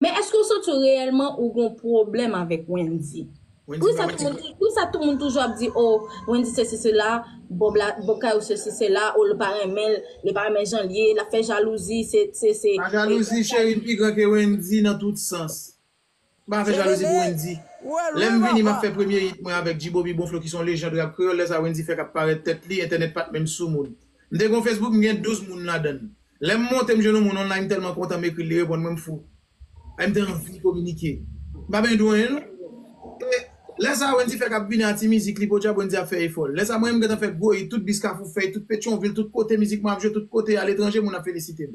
Men eske ou santi w reyèlman ou gen yon pwoblèm avèk Wendy? Poukisa tout moun toujou ap di o Wendy sesi sela, Bob la, Bob Kayou sesi sela, o l pa renmen l, li pa renmen jan l ye, l ap fè jalouzi, se, se, se. Pa jalouzi cheri m pi gran ke Wendy nan tout sans. M pa fè jalouzi pou Wendy. Lè m vini m ap fè premye hit mwen avèk G-Bobby Bonflo ki son lejand rap kreyòl, lè sa Wendy fèk ap parèt tèt li, entènèt pat menm soumoun. M te gen yon Facebook m gen 12 moun ladann. Lè m monte m jwenn yon moun online m tèlman kontan m ekri l li reponn mwen m fou. Ay m te anvi kominike. M pa benyen di w anyen non. E lè sa Wendy fèk ap vini a ti mizik li podyab Wendy ap fè efò l. Lè sa mwen menm m gentan fè gwo it tout bis kafou fèy tout petyonvil tout kote mizik mwen ap jwe tout kote a letranje moun ap felisite m.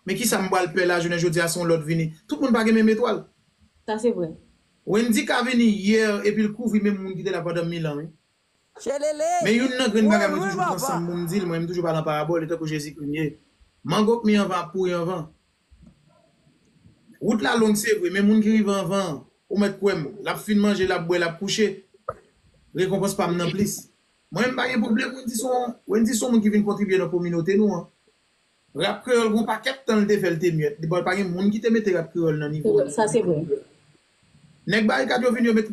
Men kisa m pral pè la jounen jodi a se yon lòt vini. Tout moun pa gen menm etwal. Sa se vre. Wendy ka vini hier epi l kouvri menm moun ki te la pandan mil an wi. Tchelele! Men youn nan grenn bagay mwen toujou pran san m pou m di l, mwen m toujou pale an parabòl, e tankou Jezikri m ye. Mango k mi anvan ap pouri anvan. Wout la long se vre, men moun ki rive anvan an, ou mèt kwè m, l ap fin manje, l ap bwè, l ap kouche, rekonpans pa m nan plis. Mwen m pa gen pwoblèm, Wendy se yon, Wendy se yon moun ki vin kontribye nan kominote nou an. Rap kreyol gon pakèt tan li te fè li te myèt li bon pa gen moun ki te mete rap kreyol nan nivo li Sa se vre. Nèg barikad yo vin yo met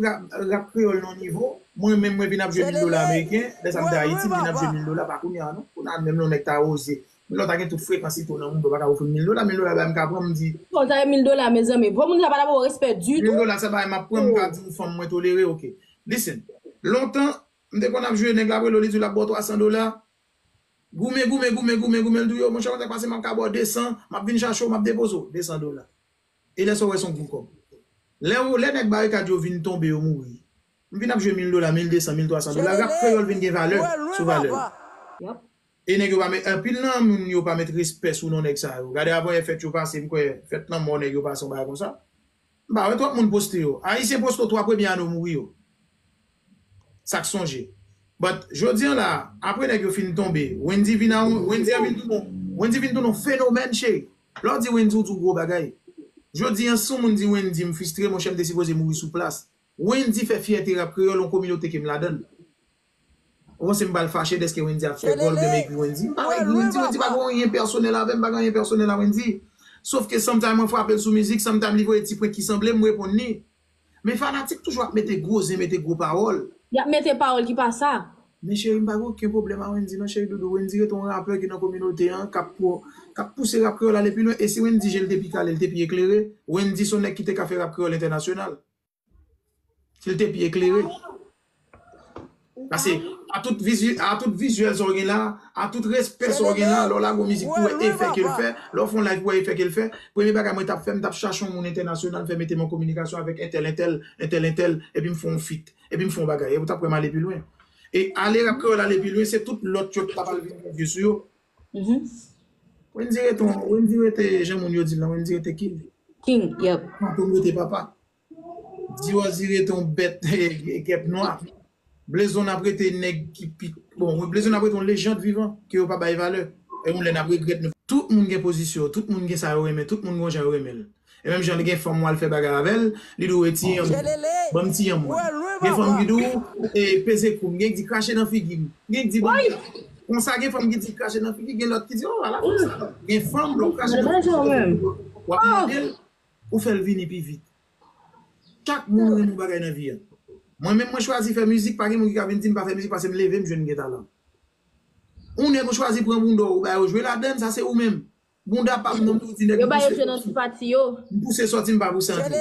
rap kreyol nan yon nivo mwen menm mwen vin ap jwe mil dola ameriken lè sa m te ayiti m vin ap jwe mil dola pa kounya non kounya menm lè yon nèg ta oze menm lè w ta gen tout frekans ito nan mond ou pa ka ofri m mil dola mil dola bay m ka pran m di Bon sa e mil dola mezanmi bon moun sa pa ta ba w respè ditou. Mil dola se bagay m ap pran m ka di w fanm mwen tolere ok listen lontan m te konn ap jwe nèg la ap rele w li di w l ap ba w 300 dola Goumen, goumen, goumen, goumen, goumen l di w yo, monchè kontak pase m ap ka ba w 200, m ap vin chache w, m ap depoze w, 200 dola. E lè sa w wè s on gwo kòb. Lè w, lè nèg barikad yo vin tonbe yo mouri, m vin ap jwe 1000 dola, 1200, 1300 dola, rap kreyòl vin gen valè sou valè l. E nèg yo pa met, anpil nan moun yo pa met respè sou non nèg sa yo. Gade avan yè fèt yo pase, m kwè fèt lanmò nèg yo pase yon bagay konsa. M pa wè twòp moun poste yo. Ayisyen poste 3 premye ane w mouri yo. Sa k sonje. But jodi an la a, apre nèg yo fin tonbe, Wendy vin a Wendy an vin tounen Wendy vin tounen yon fenomèn cheri. Lè w di Wendy w di w gwo bagay. Jodi an si yon moun di Wendy m fistre monchè m te sipoze mouri sou plas. Wendy fè fyète rap kreyòl yon kominote ke m ladan l. Ou panse m pral fache deske Wendy ap fè gòl oubyen m ekri Wendy? M pa ka ekri Wendy, Wendy pa gen anyen pèsonèl avè m, m pa gen anyen pèsonèl a Wendy. Sof ke somtime mwen frape l sou mizik, somtime li voye ti prank ki sanble, m reponn li. Men fanatik toujou ap mete gwo zen, mete gwo pawòl. Y ap mete pawòl ki pa sa. Men cheri m pa gen oken pwoblèm a Wendy non cheri doudou, Wendy rete yon rapè ki nan kominote an, k ap k ap pouse rap kreyòl ale pi lwen e si Wendy je l te pi kale, l te pi eklere, Wendy s on nèg ki te ka fè rap kreyòl entènasyonal. Si l te pi eklere. Pase a tout vizyèl sa w gen la, a tout respè sa w gen la, lè w lage yon mizik pou wè efè ke l fè, lè w fè yon live pou wè efè ke l fè, premye bagay mwen t ap fè, m t ap chache yon moun entènasyonal fè mete m an kominikasyon avèk entèl entèl, entèl entèl, epi m fè yon fit, epi m fè yon bagay. Epi w t ap wè m ale pi lwen. E ale Rap Kreyòl ale pi lwen, se tout lòt yo ki t ap al vin vye sou yo. Wendy rete on Wendy rete jan moun yo di l lan Wendy rete king King yep. Fantom rete papa. Dieuzy rete on bèt gèp nwa. Blezon ap rete nèg ki pi bon Blezon ap rete on lejand vivan ke yo pa bay valè. Yon lè n ap regrèt nou. Tout moun gen pozisyon yo, tout moun gen sa yo renmen, tout moun gon jan yo renmen l. E menm jan li gen fanm wal fè bagay avèl li di w e ti yanm banm ti yanm mwen gen fanm ki di w e peze koum gen ki di krache nan figim gen ki di banm konsa gen fanm ki di krache nan figi gen lòt ki di o ala fanm sa gen fanm lè w krache nan figi wap mandel pou fèl vini pi vit chak moun gen yon bagay nan vi a mwen menm mwen chwazi fè mizik pa gen moun ki ka vin dim pa fè mizik pasem levem jwenn gen talan ou nèg ou chwazi pran bouda w ou bay yo jwe ladann sa se ou menm Bounda pam nan m soti nèg m pouse soti. M pouse soti m pa pou santi.